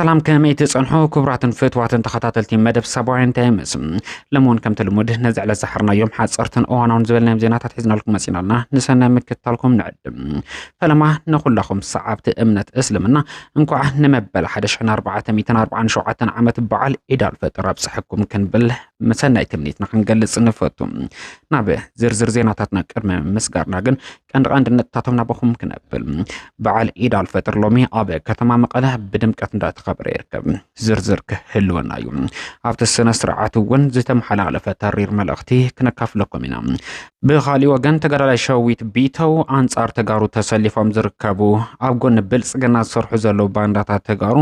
ሰላም ከመይ ትጸንሑ ክቡራትን ፍትዋትን ተኸታተልቲ መደብ ሰብኣውያን ታይምስ ለመሆን ከምቲ ልሙድ ነዚ ዕለት ዝሓርናዮም ሓፀርትን እዋናውን ዝበልናዮም ዜናታት ሒዝናልኩም መፂና ኣለና ንሰናይ ምክትታልኩም ንዕድም ፈለማ ንኹላኹም ሰዓብቲ እምነት እስልምና እንኳዕ ንመበል ሓደ ሽሕን ኣርባዕተ ሚእትን ኣርባዓን ሸውዓተን ዓመት በዓል ዒድ ኣልፈጥር ኣብፀሐኩም ክንብል ሰናይ ትምኒትና ክንገልፅ ንፈቱ። ናብ ዝርዝር ዜናታትና ቅድሚ ምስጋርና ግን ቀንዲ ቀንዲ ነጥብታቶም ናባኹም ክነብል። በዓል ዒድ ኣልፈጥር ሎሚ ኣብ ከተማ መቐለ ብድምቀት እንዳተኸበረ ይርከብ። ዝርዝር ክህልወና እዩ። ኣብቲ ስነ ስርዓት እውን ዝተመሓላለፈ ተሪር መልእኽቲ ክነካፍለኩም ኢና። ብካሊእ ወገን ተጋዳላይ ሸዊት ቢተው ኣንጻር ተጋሩ ተሰሊፎም ዝርከቡ ኣብ ጎኒ ብልጽግና ዝሰርሑ ዘለዉ ባንዳታት ተጋሩ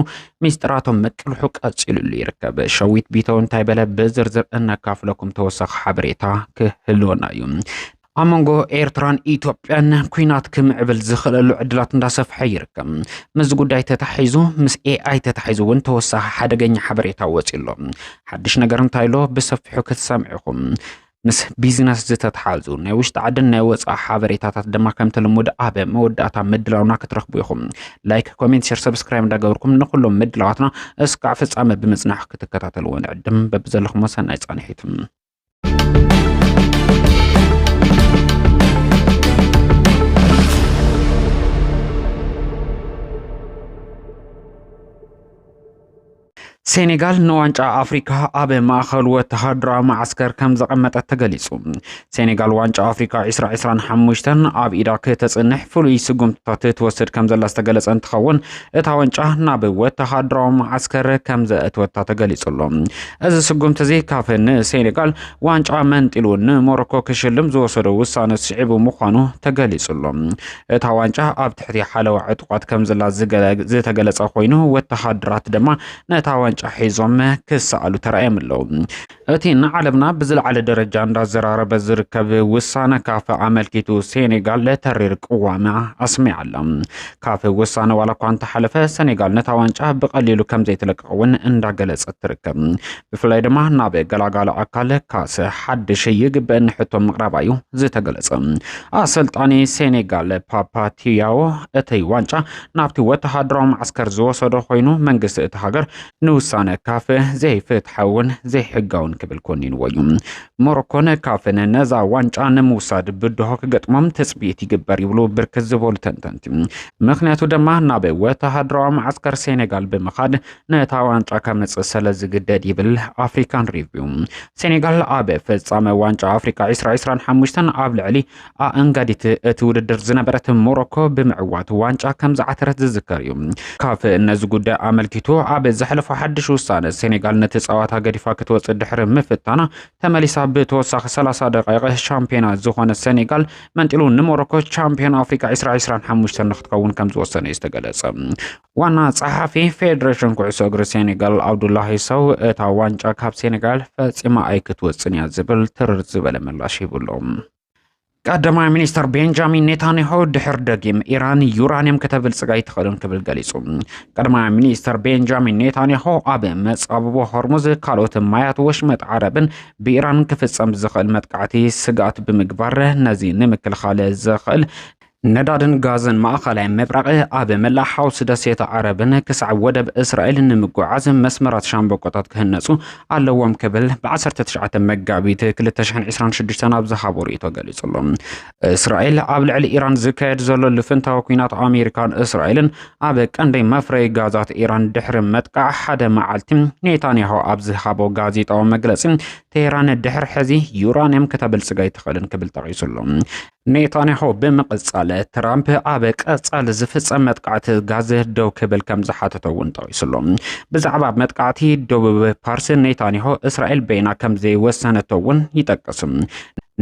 ሚስጥራቶም ምቅልሑ ቀጺሉሉ ይርከብ። ሸዊት ቢተው እንታይ በለ ብዝርዝር እነካፍለኩም ተወሳኺ ሓበሬታ ክህልወና እዩ። ኣብ መንጎ ኤርትራን ኢትዮጵያን ኩናት ክምዕብል ዝኽእለሉ ዕድላት እንዳሰፍሐ ይርከብ። ምስዚ ጉዳይ ተታሒዙ ምስ ኤኣይ ተታሒዙ እውን ተወሳኺ ሓደገኛ ሓበሬታ ወፂኡ ኣሎ። ሓድሽ ነገር እንታይ ኣሎ ብሰፊሑ ክትሰምዑ ኢኹም። ምስ ቢዝነስ ዝተተሓዙ ናይ ውሽጢ ዓድን ናይ ወፃኢ ሓበሬታታት ድማ ከምቲ ልሙድ ኣብ መወዳእታ ምድላውና ክትረኽቡ ኢኹም። ላይክ፣ ኮሜንት፣ ሸር፣ ሰብስክራይብ እንዳገበርኩም ንኩሎም ምድላዋትና እስካዕ ፍፃመ ብምፅናሕ ክትከታተልዎ ንዕድም። በብዘለኹም ሰናይ ፃንሒት። ሴኔጋል ንዋንጫ ኣፍሪካ ኣብ ማእኸል ወተሃደራዊ መዓስከር ከም ዘቐመጠት ተገሊጹ። ሴኔጋል ዋንጫ ኣፍሪካ 2025 ኣብ ኢዳ ከተፅንሕ ፍሉይ ስጉምትታት ትወስድ ከም ዘላ ዝተገለጸ እንትኸውን እታ ዋንጫ ናብ ወተሃደራዊ መዓስከር ከም ዘእትወታ ተገሊጹ ኣሎ። እዚ ስጉምቲ እዚ ካፍ ንሴኔጋል ዋንጫ መንጢሉ ንሞሮኮ ክሽልም ዝወሰዶ ውሳነ ስዒቡ ምዃኑ ተገሊጹ ኣሎ። እታ ዋንጫ ኣብ ትሕቲ ሓለዋ ዕጡቓት ከም ዘላ ዝተገለጸ ኮይኑ ወተሃደራት ድማ ነታ ዋንጫ ሒዞም ክሰኣሉ ተራእዮም ኣለዉ። እቲ ንዓለምና ብዝለዓለ ደረጃ እንዳዘራረበ ዝርከብ ውሳነ ካፍ ኣመልኪቱ ሴኔጋል ተሪር ቅዋማ ኣስሚዓ ኣላ። ካፍ ውሳነ ዋላ እኳ እንተሓለፈ ሰኔጋል ነታ ዋንጫ ብቐሊሉ ከም ዘይትለቅቕ እውን እንዳገለጸት ትርከብ። ብፍላይ ድማ ናብ ገላጋሊ ኣካል ካስ ሓድሽ ይግበእኒ ሕቶ ምቕራባ እዩ ዝተገለጸ። ኣሰልጣኒ ሴኔጋል ፓፓቲያዎ እቲ ዋንጫ ናብቲ ወተሃደራዊ ማዕስከር ዝወሰዶ ኮይኑ መንግስቲ እቲ ሃገር ንውሳነ ካፍ ዘይፍትሓውን ዘይሕጋውን ክብል ኮኒንዎ እዩ። ሞሮኮን ካፍን ነዛ ዋንጫ ንምውሳድ ብድሆ ክገጥሞም ትፅቢት ይግበር ይብሉ ብርክት ዝበሉ ተንተንቲ። ምክንያቱ ድማ ናብ ወተሃደራዊ መዓስከር ሴኔጋል ብምኻድ ነታ ዋንጫ ከምፅእ ስለ ዝግደድ ይብል ኣፍሪካን ሪቪው። ሴኔጋል ኣብ ፍፃመ ዋንጫ ኣፍሪካ 2025 ኣብ ልዕሊ ኣኣንጋዲት እቲ ውድድር ዝነበረት ሞሮኮ ብምዕዋት ዋንጫ ከም ዝዓተረት ዝዝከር እዩ። ካፍ ነዚ ጉዳይ ኣመልኪቱ ኣብ ዘሕለፎ ሓድሽ ውሳነ ሴኔጋል ነቲ ጸዋታ ገዲፋ ክትወጽእ ድሕሪ ምፍታና ተመሊሳ ብተወሳኺ 30 ደቃይቕ ሻምፒዮና ዝኾነ ሴኔጋል መንጢሉ ንሞሮኮ ቻምፒዮን ኣፍሪቃ 2025 ንክትከውን ከም ዝወሰነ እዩ ዝተገለጸ። ዋና ጸሓፊ ፌደሬሽን ኩዕሶ እግሪ ሴኔጋል ኣብዱላሂ ሰው እታ ዋንጫ ካብ ሴኔጋል ፈጺማ ኣይክትወጽን እያ ዝብል ትርር ዝበለ ምላሽ ሂብሉ ቀዳማይ ሚኒስትር ቤንጃሚን ኔታንያሁ ድሕር ደጊም ኢራን ዩራንየም ከተብልጽግ ኣይትኽእልን ክብል ገሊጹ ቀዳማይ ሚኒስትር ቤንጃሚን ኔታንያሁ ኣብ መጻብቦ ሆርሙዝ ካልኦት ማያት ወሽመጥ ዓረብን ብኢራን ክፍጸም ዝኽእል መጥቃዕቲ ስግኣት ብምግባር ነዚ ንምክልኻል ዝኽእል ነዳድን ጋዝን ማእኸላይ ምብራቕ ኣብ መላእ ሓውሲ ደሴት ዓረብን ክሳዕ ወደብ እስራኤልን ንምጉዓዝ መስመራት ሻምበቆታት ክህነፁ ኣለዎም ክብል ብ19 መጋቢት 2026 ናብ ዝሃቦ ርእይቶ ገሊጹ ኣሎ። እስራኤል ኣብ ልዕሊ ኢራን ዝካየድ ዘሎ ልፍንታዊ ኩናት ኣሜሪካን እስራኤልን ኣብ ቀንዲ መፍረይ ጋዛት ኢራን ድሕሪ መጥቃዕ ሓደ መዓልቲ ኔታንያሁ ኣብ ዝሃቦ ጋዜጣዊ መግለፂ ቴህራን ድሕሪ ሕዚ ዩራንየም ከተበልፅግ ኣይትኽእልን ክብል ጠቒሱሉ ኔታንያሁ ብምቕጻል ትራምፕ ኣብ ቀጻሊ ዝፍጸም መጥቃዕቲ ጋዘ ደው ክብል ከም ዝሓተተ እውን ጠቒሱ ኣሎ። ብዛዕባ መጥቃዕቲ ደቡብ ፓርስ ኔታንያሁ እስራኤል በይና ከም ዘይወሰነቶ እውን ይጠቅስ።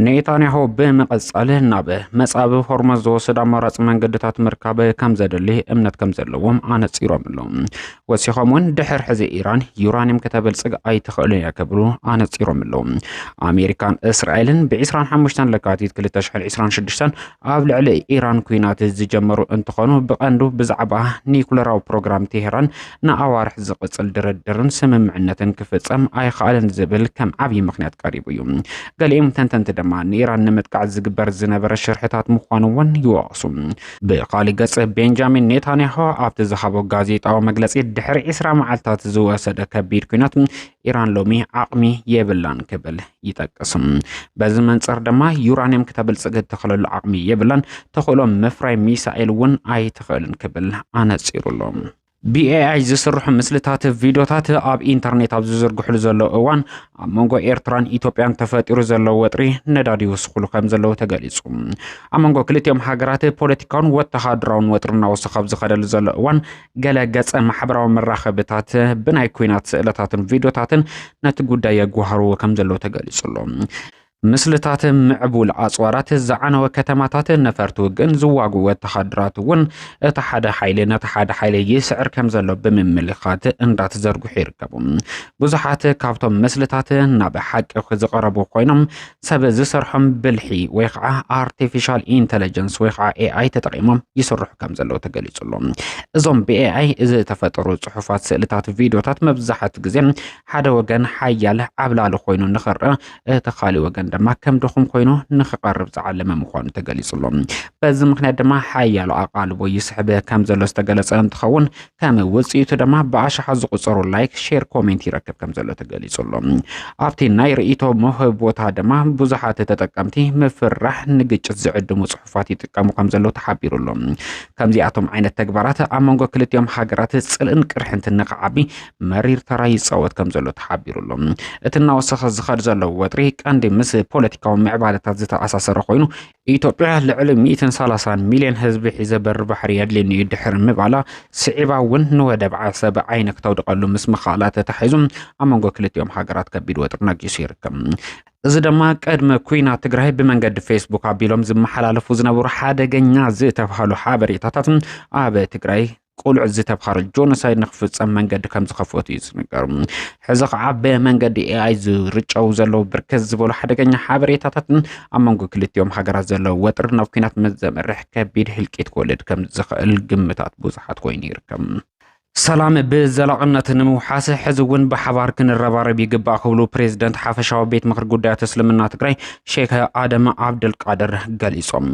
ኔታንያሁ ብምቕጻል ናብ መጻብ ሆርሞዝ ዝወስድ ኣማራጺ መንገድታት ምርካብ ከም ዘድሊ እምነት ከም ዘለዎም ኣነጺሮም ኣለዉ። ወሲኾም እውን ድሕር ሕዚ ኢራን ዩራኒየም ከተበልጽግ ኣይትኽእልን እያ ክብሉ ኣነጺሮም ኣለዉ ኣሜሪካን እስራኤልን ብ25 ለካቲት 2026 ኣብ ልዕሊ ኢራን ኩናት ዝጀመሩ እንትኾኑ ብቐንዱ ብዛዕባ ኒኩለራዊ ፕሮግራም ቴሄራን ንኣዋርሕ ዝቕጽል ድርድርን ስምምዕነትን ክፍጸም ኣይኽኣልን ዝብል ከም ዓብዪ ምክንያት ቀሪቡ እዩ ገሊኦም ተንተንቲ ድማ ንኢራን ንምጥቃዕ ዝግበር ዝነበረ ሽርሕታት ምዃኑ እውን ይወቕሱ ብኻልእ ገጽ ቤንጃሚን ኔታንያሆ ኣብቲ ዝሃቦ ጋዜጣዊ መግለጺ ድሕሪ ዒስራ መዓልትታት ዝወሰደ ከቢድ ኩናት ኢራን ሎሚ ዓቕሚ የብላን ክብል ይጠቅስም በዚ መንጽር ድማ ዩራንየም ክተብልጽግ እትኽእለሉ ዓቕሚ የብላን ተኽእሎ ምፍራይ ሚሳኤል እውን ኣይትኽእልን ክብል ኣነጺሩሎም ብኤኣይ ዝስርሑ ምስልታት ቪድዮታት ኣብ ኢንተርኔት ኣብ ዝዝርግሕሉ ዘለዉ እዋን ኣብ መንጎ ኤርትራን ኢትዮጵያን ተፈጢሩ ዘለዉ ወጥሪ ነዳዲ ይውስኽሉ ከም ዘለዉ ተገሊጹ ኣብ መንጎ ክልቲኦም ሃገራት ፖለቲካውን ወተሃደራውን ወጥሪ እናወሰኸ ኣብ ዝኸደሉ ዘሎ እዋን ገለ ገጸ ማሕበራዊ መራኸብታት ብናይ ኩናት ስእለታትን ቪድዮታትን ነቲ ጉዳይ የጓህርዎ ከም ዘለዉ ተገሊጹ ኣሎ ምስልታት ምዕቡል ኣጽዋራት፣ ዝዓነወ ከተማታት፣ ነፈርቲ ውግእን ዝዋግኡ ወተሃደራት እውን እቲ ሓደ ሓይሊ ነቲ ሓደ ሓይሊ ይስዕር ከም ዘሎ ብምምልኻት እንዳተዘርግሑ ይርከቡ። ብዙሓት ካብቶም ምስልታት ናብ ሓቂ ዝቐረቡ ኮይኖም ሰብ ዝሰርሖም ብልሒ ወይ ከዓ ኣርቲፊሻል ኢንተለጀንስ ወይ ከዓ ኤኣይ ተጠቒሞም ይስርሑ ከም ዘለዉ ተገሊጹ ኣሎ። እዞም ብኤኣይ ዝተፈጠሩ ጽሑፋት፣ ስእልታት፣ ቪድዮታት መብዛሕት ግዜ ሓደ ወገን ሓያል ዓብላሊ ኮይኑ ንኽርእ እቲ ካሊእ ወገን ድማ ከም ድኹም ኮይኑ ንክቐርብ ዝዓለመ ምዃኑ ተገሊጹ ኣሎ። በዚ ምክንያት ድማ ሓያሎ ኣቓልቦ ይስሕብ ከም ዘሎ ዝተገለጸ እንትኸውን ከም ውጽኢቱ ድማ ብኣሽሓት ዝቑጸሩ ላይክ፣ ሼር፣ ኮሜንት ይረክብ ከም ዘሎ ተገሊጹ ኣሎ። ኣብቲ ናይ ርእይቶ መውሀቢ ቦታ ድማ ብዙሓት ተጠቀምቲ ምፍርራሕ ንግጭት ዝዕድሙ ጽሑፋት ይጥቀሙ ከም ዘለዉ ተሓቢሩ ኣሎ። ከምዚኣቶም ዓይነት ተግባራት ኣብ መንጎ ክልቲኦም ሃገራት ጽልእን ቅርሕንትን ንክዓቢ መሪር ተራ ይፃወት ከም ዘሎ ተሓቢሩ ኣሎ። እቲ እናወሰኸ ዝኸድ ዘሎ ወጥሪ ቀንዲ ምስ ፖለቲካዊ ምዕባለታት ዝተኣሳሰረ ኮይኑ ኢትዮጵያ ልዕሊ 130 ሚልዮን ህዝቢ ሒዘ በሪ ባሕሪ የድልየኒ እዩ ድሕሪ ምባላ ስዒባ እውን ንወደብ ዓሰብ ዓይነ ክተውድቀሉ ምስ ምኽኣላ ተታሒዙ ኣብ መንጎ ክልቲኦም ሃገራት ከቢድ ወጥሪ ነጊሱ ይርከብ። እዚ ድማ ቅድሚ ኩናት ትግራይ ብመንገዲ ፌስቡክ ኣቢሎም ዝመሓላለፉ ዝነበሩ ሓደገኛ ዝተባሃሉ ሓበሬታታት ኣብ ትግራይ ቁልዑት ዝተብሃረ ጆኖሳይድ ንክፍፀም መንገዲ ከም ዝኸፈቱ እዩ ዝንገር። ሕዚ ከዓ ብመንገዲ ኤኣይ ዝርጨው ዘለዉ ብርክት ዝበሉ ሓደገኛ ሓበሬታታትን ኣብ መንጎ ክልቲኦም ሃገራት ዘለዉ ወጥሪ ናብ ኩናት ምስ ዘምርሕ ከቢድ ህልቂት ክወልድ ከም ዝኽእል ግምታት ብዙሓት ኮይኑ ይርከብ። ሰላም ብዘላቕነት ንምውሓስ ሕዚ እውን ብሓባር ክንረባረብ ይግባእ ክብሉ ፕሬዚደንት ሓፈሻዊ ቤት ምክሪ ጉዳያት እስልምና ትግራይ ሼክ ኣደም ዓብደልቃድር ገሊፆም።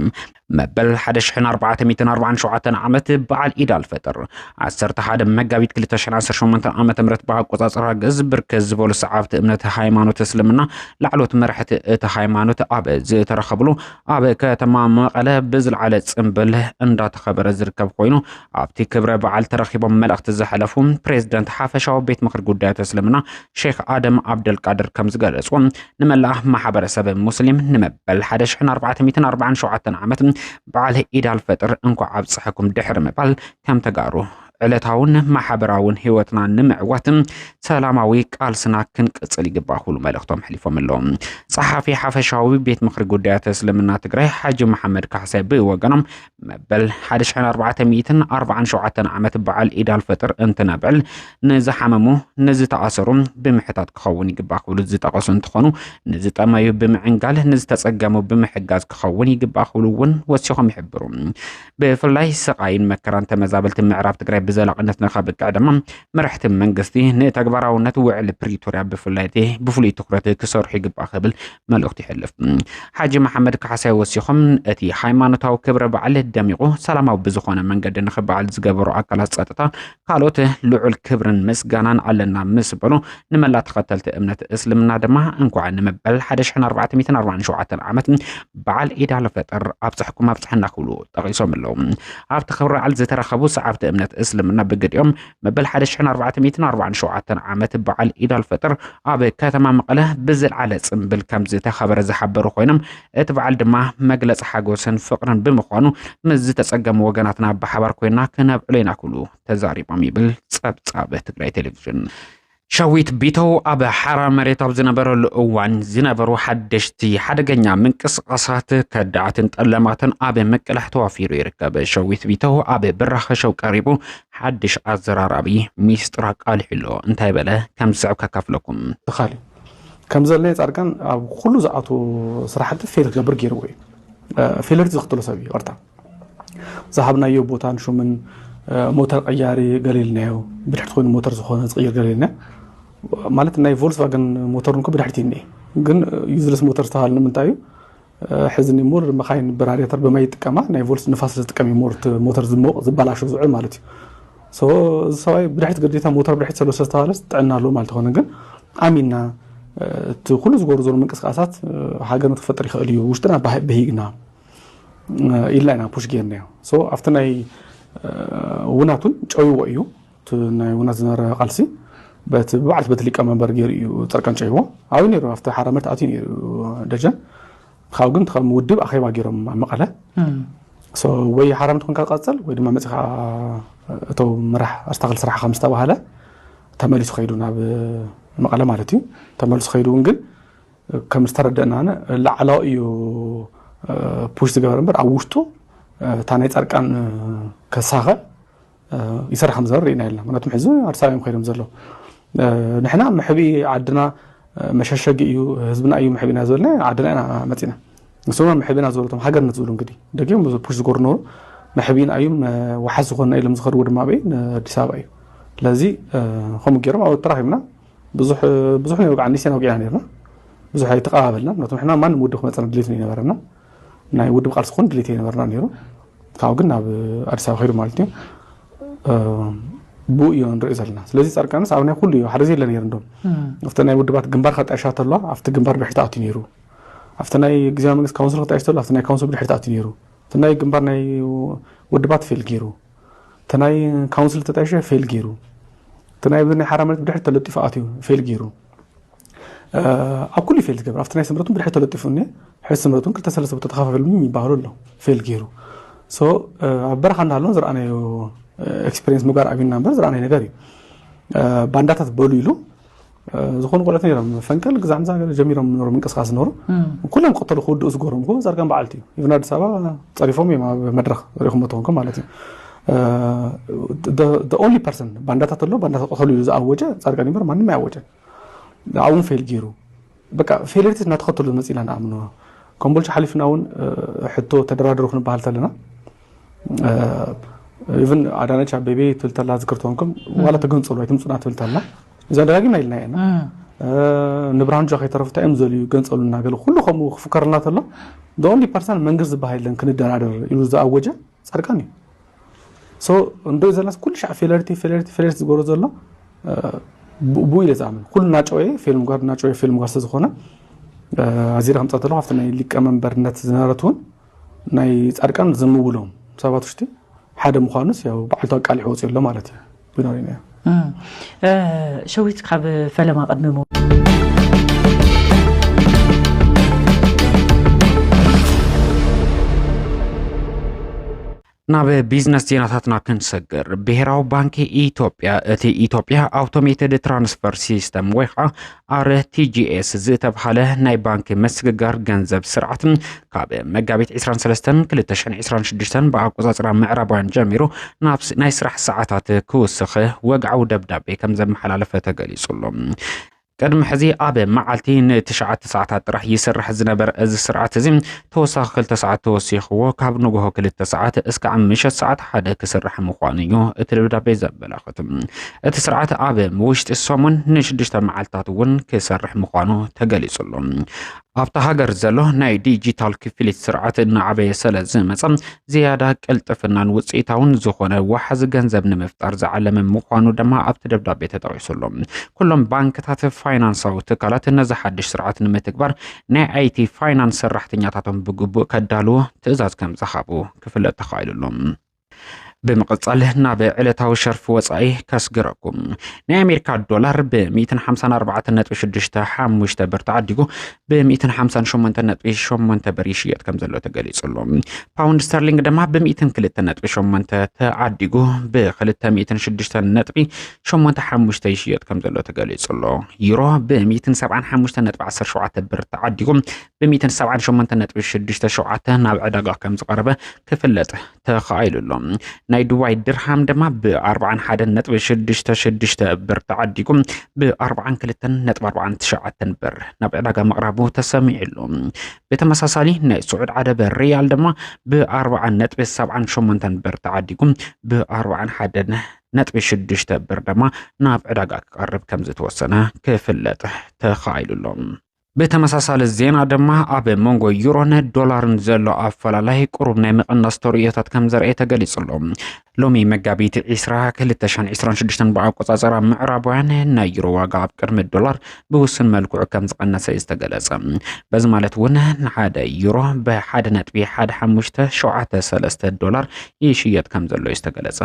መበል 1447 ዓመት በዓል ኢድ ኣልፈጥር 11 መጋቢት 2018 ዓ ም ብኣቆፃፅራ ግእዝ ብርከት ዝበሉ ሰዓብቲ እምነት ሃይማኖት እስልምና ላዕሎት መራሕቲ እቲ ሃይማኖት ኣብ ዝተረኸብሉ ኣብ ከተማ መቐለ ብዝለዓለ ፅምብል እንዳተኸበረ ዝርከብ ኮይኑ ኣብቲ ክብረ በዓል ተረኺቦም መልእኽቲ ዘሕለፉ ፕሬዝደንት ሓፈሻዊ ቤት ምኽሪ ጉዳያት እስልምና ሼክ ኣደም ዓብደልቃድር ከም ዝገለጹ ንመላእ ማሕበረሰብ ሙስሊም ንመበል 1447 ዓመት በዓል ኢድ ኣልፈጥር እንኳዕ ኣብፀሐኩም ድሕሪ ምባል ከም ተጋሩ ዕለታውን ማሕበራውን ህይወትና ንምዕዋት ሰላማዊ ቃልስና ክንቅፅል ይግባእ ክብሉ መልእኽቶም ኣሕሊፎም ኣለዉ። ጸሓፊ ሓፈሻዊ ቤት ምኽሪ ጉዳያት እስልምና ትግራይ ሓጂ መሓመድ ካሕሳይ ብወገኖም መበል ሓደ ሽሕን ኣርባዕተ ሚእትን ኣርባዓን ሸውዓተን ዓመት በዓል ኢድ ኣልፈጥር እንትነብዕል ንዝሓመሙ ንዝተኣሰሩ ብምሕታት ክኸውን ይግባእ ክብሉ ዝጠቐሱ እንትኾኑ ንዝጠመዩ ብምዕንጋል ንዝተፀገሙ ብምሕጋዝ ክኸውን ይግባእ ክብሉ እውን ወሲኾም ይሕብሩ። ብፍላይ ስቓይን መከራን ተመዛበልቲ ምዕራብ ትግራይ ብዘላቕነት ንከብቅዕ ድማ መራሕቲ መንግስቲ ንተግባራውነት ውዕሊ ፕሪቶርያ ብፍላይ ብፍሉይ ትኩረት ክሰርሑ ይግባእ ክብል መልእኽቱ ይሕልፍ። ሓጂ መሓመድ ካሕሳይ ወሲኾም እቲ ሃይማኖታዊ ክብረ በዓል ደሚቑ ሰላማዊ ብዝኾነ መንገዲ ንክበዓል ዝገበሩ ኣካላት ፀጥታ ካልኦት ልዑል ክብርን ምስጋናን ኣለና ምስ በሉ ንመላ ተኸተልቲ እምነት እስልምና ድማ እንኳዕ ንመበል 1447 ዓመት በዓል ኢድ ኣልፈጥር ኣብፀሕኩም ኣብፀሐና ክብሉ ጠቒሶም ኣለዉ። ኣብቲ ክብረ በዓል ዝተረኸቡ ሰዓብቲ እምነት እስልምና ብግዲኦም መበል ሓደ ሽሕን ኣርባዕተ ሚእትን ኣርባዓን ሸውዓተን ዓመት በዓል ኢድ ኣልፈጥር ኣብ ከተማ መቐለ ብዝልዓለ ጽምብል ከም ዝተኸበረ ዝሓበሩ ኮይኖም እቲ በዓል ድማ መግለፂ ሓጎስን ፍቕርን ብምዃኑ ምስ ዝተጸገሙ ወገናትና ብሓባር ኮይና ክነብዕሎ ኢና ክብሉ ተዛሪቦም ይብል ጸብጻብ ትግራይ ቴሌቪዥን። ሸዊት ቢተው ኣብ ሓራ መሬት ኣብ ዝነበረሉ እዋን ዝነበሩ ሓደሽቲ ሓደገኛ ምንቅስቓሳት ከዳዓትን ጠለማትን ኣብ ምቅላሕ ተዋፊሩ ይርከብ። ሸዊት ቢተው ኣብ ብራኸ ሸው ቀሪቡ ሓድሽ ኣዘራራቢ ሚስጥር ኣቃሊሑ ኣሎ። እንታይ በለ? ከም ዝስዕብ ከካፍለኩም። ተኻሊ ከም ዘለ ጻድቃን ኣብ ኩሉ ዝኣቱ ስራሕቲ ፌል ክገብር ገይርዎ እዩ። ፌለርቲ ዘኽትሎ ሰብ እዩ። ቐርታ ዝሃብናዮ ቦታን ሹምን ሞተር ቀያሪ ገሊልናዮ ብድሕርቲ ኮይኑ ሞተር ዝኾነ ዝቕይር ገሊልና ማለት ናይ ቮልስቫገን ሞተር ንኮ ብድሕርቲ እኒ ግን ዩዝለስ ሞተር ዝተባሃለ ንምንታይ እዩ ሕዚ ሞር መካይን በራሪተር ብማይ ይጥቀማ ናይ ቮልስ ንፋስ ዝጥቀም እዩ ሞር ሞተር ዝሞቕ ዝበላሹ ዝውዕል ማለት እዩ ሶ እዚ ሰብኣይ ብድሕሪት ግዴታ ሞተር ብድሕሪት ዘሎ ስለዝተባሃለ ጥዕና ኣለዎ ማለት ይኮነ ግን ኣሚና እቲ ኩሉ ዝገብሩ ዘሎ ምንቅስቃሳት ሃገርነት ክፈጥር ይኽእል እዩ ውሽጥና በሂግና ኢልና ኢና ፑሽ ጌርናዮ ሶ ኣብቲ ናይ ውናት እውን ጨይዎ እዩ እቲ ናይ ውናት ዝነበረ ቃልሲ በቲ ብባዕልቲ በቲ ሊቀመንበር ገይሩ እዩ ጸርቀን ጨይዎ ኣብዩ ነይሩ ኣብቲ ሓራ ምርት ኣትዩ ነይሩ ደጀን ካብ ግን ከም ውድብ ኣኼባ ገይሮም ኣብ መቐለ ሶ ወይ ሓራ ምርት ኮንካ ትቐጽል ወይ ድማ መጺኻ እቶ ምራሕ ኣስታክል ስራሕ ከም ዝተባሃለ ተመሊሱ ከይዱ ናብ መቐለ ማለት እዩ ተመሊሱ ከይዱ እውን ግን ከም ዝተረደእናነ ላዕላው እዩ ፑሽ ዝገበረ እምበር ኣብ ውሽጡ እታ ናይ ፃድቃን ከሳኸ ይሰርሕ ከም ዘበር ርኢና የለና ምክንያቱም ሕዚ ኣዲስ ኣበባ እዮም ከይዶም ዘለዉ ንሕና መሕቢ ዓድና መሸሸጊ እዩ ህዝብና እዩ መሕቢና ዝበልና ዓድና ኢና መፂና ንሶማ መሕቢና ዝበለቶም ሃገርነት ዝብሉ እንግዲህ ደጊም ብዙ ፑሽ ዝገሩ ነበሩ መሕቢና እዩም ዋሓስ ዝኾንና ኢሎም ዝኸድዎ ድማ በይ ንኣዲስ ኣበባ እዩ ስለዚ ከምኡ ገይሮም ኣብ ተራኺብና ብዙሕ ብዙሕ ነይሩ ከዓ ኒሴና ወቂዕና ነርና ብዙሕ ኣይተቀባበልና ምክንያቱ ንሕና ማንም ውድብ ክመፀና ድሌት ነው ይነበረና ናይ ውድብ ቃልሲ ክኾን ድሌት ይነበርና ነይሩ ካብኡ ግን ናብ ኣዲስ ኣበባ ከይዱ ማለት እዩ ብኡ እዮ ንሪኦ ዘለና ስለዚ ፃድቃንስ ኣብ ናይ ኩሉ እዩ ሓደ ዘየለ ነይሩ እንዶም ኣብቲ ናይ ውድባት ግንባር ከጣይሻ ተለዋ ኣብቲ ግንባር ብድሕሪ ተኣትዩ ነይሩ ኣብቲ ናይ ግዜያዊ መንግስቲ ካውንስል ከጣይሽ ተሎ ኣብቲ ናይ ካውንስል ብድሕሪ ተኣትዩ ነይሩ እቲ ናይ ግንባር ናይ ውድባት ፌል ገይሩ እቲ ናይ ካውንስል ተጣይሸ ፌል ገይሩ እቲ ናይ ናይ ሓራ መሬት ብድሕሪ ተለጢፉ ኣትዩ ፌል ገይሩ ኣብ ኩሉ ፌል ዝገብር ኣብቲ ናይ ስምረት ብድሕሪ ተለጢፉ እኒ ሕዚ ስምረት ክልተ ሰለስተ ቦታ ተኸፋፈሉ ይበሃሉ ኣሎ ፌል ገይሩ ኣብ በረኻ እንዳሃለውን ዝረኣናዮ ኤክስፔሪንስ ምጓር ኣብና እምበር ዝረኣናዮ ነገር እዩ ባንዳታት በሉ ኢሉ ዝኾኑ ቆልዑት ነይሮም ፈንቅል ግዛዕ ምዛ ገለ ጀሚሮም ነሩ ምንቅስቃስ ዝነበሩ ኩሎም ቀተሉ ክውድኡ ዝገርም ኮ ዛርጋን በዓልቲ እዩ ኢብን ኣዲስ ኣበባ ፀሪፎም እዮም ኣብ መድረክ ሪኹም ተኾንኩም ማለት እዩ ኦንሊ ፐርሰን ባንዳታት ኣሎ ባንዳታት ቀተሉ ኢሉ ዝኣወጀ ፃድቃን ይበር ማንም ኣያወጀን ኣብኡን ፌል ገይሩ በቃ ፌለሪቲስ እናተኸተሉ ዝመፅእ ኢና ንኣምኖ ኮምቦልቻ ሓሊፍና እውን ሕቶ ተደራደሩ ክንበሃል ተለና ኢቨን ኣዳነች ኣቤቤ ትብል ተላ ዝክር ትኾንኩም ዋላ ተገንፀሉ ኣይትምፁና ትብል ተላ እዚኣ ደጋጊምና ኢልና ኢና ንብርሃኑ ጃ ከይተረፉ እንታይ እዮም ዘልዩ ገንፀሉ እናገለ ኩሉ ከምኡ ክፍከረልና ተሎ ኦንሊ ፐርሰን መንግስት ዝበሃል የለን ክንደራደር ኢሉ ዝኣወጀ ፃድቃን እዩ ሶ እንዶ ዘላስ ኩሉ ሻዕ ፌለርቲ ፌለርቲ ፌለርቲ ዝገብሮ ዘሎ ብኡ ኢለ ዝኣምን ኩሉ ናጨወ ፊልም ጓር ናጨወ ፊልም ጓር ስለዝኾነ ኣዚረ ከምፃ ተለኩ ኣብቲ ናይ ሊቀመንበርነት ዝነበረት እውን ናይ ፃድቃን ዝምውሎም ሰባት ውሽጢ ሓደ ምዃኑስ ያው በዓልቱ ኣቃሊሑ ወፂኡ ኣሎ ማለት እዩ ብኖሪና ሸዊት ካብ ፈለማ ቅድሚ ናብ ቢዝነስ ዜናታትና ክንሰግር ብሄራዊ ባንኪ ኢትዮጵያ እቲ ኢትዮጵያ ኣውቶሜትድ ትራንስፈር ሲስተም ወይ ከዓ RTGS ዝተብሃለ ናይ ባንኪ ምስግጋር ገንዘብ ስርዓት ካብ መጋቢት 23/2026 ብኣቆፃፅራ ምዕራባውያን ጀሚሩ ናብ ናይ ስራሕ ሰዓታት ክውስኽ ወግዓዊ ደብዳቤ ከም ዘመሓላለፈ ተገሊጹ ኣሎ። ቅድሚ ሕዚ ኣብ መዓልቲ ንትሽዓተ ሰዓታት ጥራሕ ይስራሕ ዝነበረ እዚ ስርዓት እዚ ተወሳኺ ክልተ ሰዓት ተወሲኽዎ ካብ ንግሆ ክልተ ሰዓት እስካዕ ምሸት ሰዓት ሓደ ክስራሕ ምዃኑ እዩ እቲ ደብዳቤ ዘመላኽት። እቲ ስርዓት ኣብ ውሽጢ ሰሙን ንሽዱሽተ መዓልትታት እውን ክሰርሕ ምዃኑ ተገሊጹሉ። ኣብታ ሃገር ዘሎ ናይ ዲጂታል ክፍሊት ስርዓት እናዓበየ ስለ ዝመፀ ዝያዳ ቅልጥፍናን ውፅኢታውን ዝኾነ ዋሓዚ ገንዘብ ንምፍጣር ዝዓለመ ምዃኑ ድማ ኣብቲ ደብዳቤ ተጠቂሱሉ። ኩሎም ባንክታት፣ ፋይናንሳዊ ትካላት ነዚ ሓድሽ ስርዓት ንምትግባር ናይ ኣይቲ ፋይናንስ ሰራሕተኛታቶም ብግቡእ ከዳልዎ ትእዛዝ ከም ዝሃቡ ክፍለጥ ተኻኢሉ ኣሎ። ብምቕጻል ናብ ዕለታዊ ሸርፊ ወጻኢ ከስግረኩም ናይ ኣሜሪካ ዶላር ብ154.65 ብር ተዓዲጉ ብ158.8 ብር ይሽየጥ ከም ዘሎ ተገሊጹ ኣሎ ፓውንድ ስተርሊንግ ድማ ብ102.8 ተዓዲጉ ብ206 ሸሞንተ ሓሙሽተ ይሽየጥ ከም ዘሎ ተገሊጹ ኣሎ። ዩሮ ብ175.17 ብር ተዓዲጉ ብ178.67 ናብ ዕዳጋ ከም ዝቐረበ ክፍለጥ ተኻኢሉ ኣሎ። ናይ ዱባይ ድርሃም ድማ ብ41.66 ብር ተዓዲጉ ብ42.49 ብር ናብ ዕዳጋ ምቕራቡ ተሰሚዑ ኣሎ። ብተመሳሳሊ ናይ ስዑድ ዓረብ ሪያል ድማ ብ40.78 ብር ተዓዲጉ ብ41 ነጥቢ ሽዱሽተ ብር ድማ ናብ ዕዳጋ ክቐርብ ከም ዝተወሰነ ክፍለጥ ተኻኢሉ ኣሎ። ብተመሳሳሊ ዜና ድማ ኣብ መንጎ ዩሮን ዶላርን ዘሎ ኣፈላላይ ቁሩብ ናይ ምቕናስ ተርእዮታት ከም ዘርኤ ተገሊጹ ኣሎ። ሎሚ መጋቢት 20 2026 ብኣቆጻጸራ ምዕራባውያን ናይ ዩሮ ዋጋ ኣብ ቅድሚ ዶላር ብውሱን መልክዑ ከም ዝቐነሰ እዩ ዝተገለጸ። በዚ ማለት እውን ንሓደ ዩሮ ብሓደ ነጥቢ ሓደ ሓሙሽተ ሸውዓተ ሰለስተ ዶላር ይሽየጥ ከም ዘሎ እዩ ዝተገለጸ።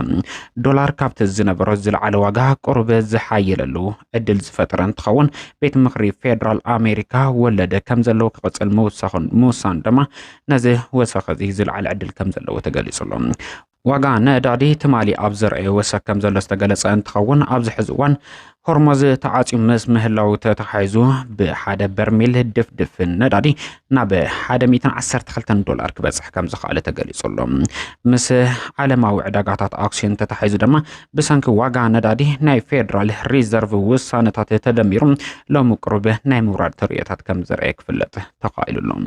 ዶላር ካብቲ ዝነበሮ ዝለዓለ ዋጋ ቁሩብ ዝሓየለሉ ዕድል ዝፈጠረ እንትኸውን ቤት ምኽሪ ፌዴራል ኣሜሪካ ወለደ ከም ዘለዎ ክቕፅል ምውሳኑ ድማ ነዚ ወሰኸ እዚ ዝለዓለ ዕድል ከም ዘለዎ ተገሊጹ ኣሎ። ዋጋ ነዳዲ ትማሊ ኣብ ዘርኣዮ ወሰክ ከም ዘሎ ዝተገለጸ እንትኸውን ኣብዚ ሕዚ እዋን ሆርሞዝ ተዓፅዩ ምስ ምህላው ተተሓሒዙ ብሓደ በርሚል ድፍድፍ ነዳዲ ናብ 112 ዶላር ክበፅሕ ከም ዝኸኣለ ተገሊጹ ኣሎ። ምስ ዓለማዊ ዕዳጋታት ኣክሲዮን ተተሓሒዙ ድማ ብሰንኪ ዋጋ ነዳዲ ናይ ፌዴራል ሪዘርቭ ውሳነታት ተደሚሩ ሎሚ ቅሩብ ናይ ምውራድ ተርእዮታት ከም ዘርአየ ክፍለጥ ተኻኢሉ ኣሎ።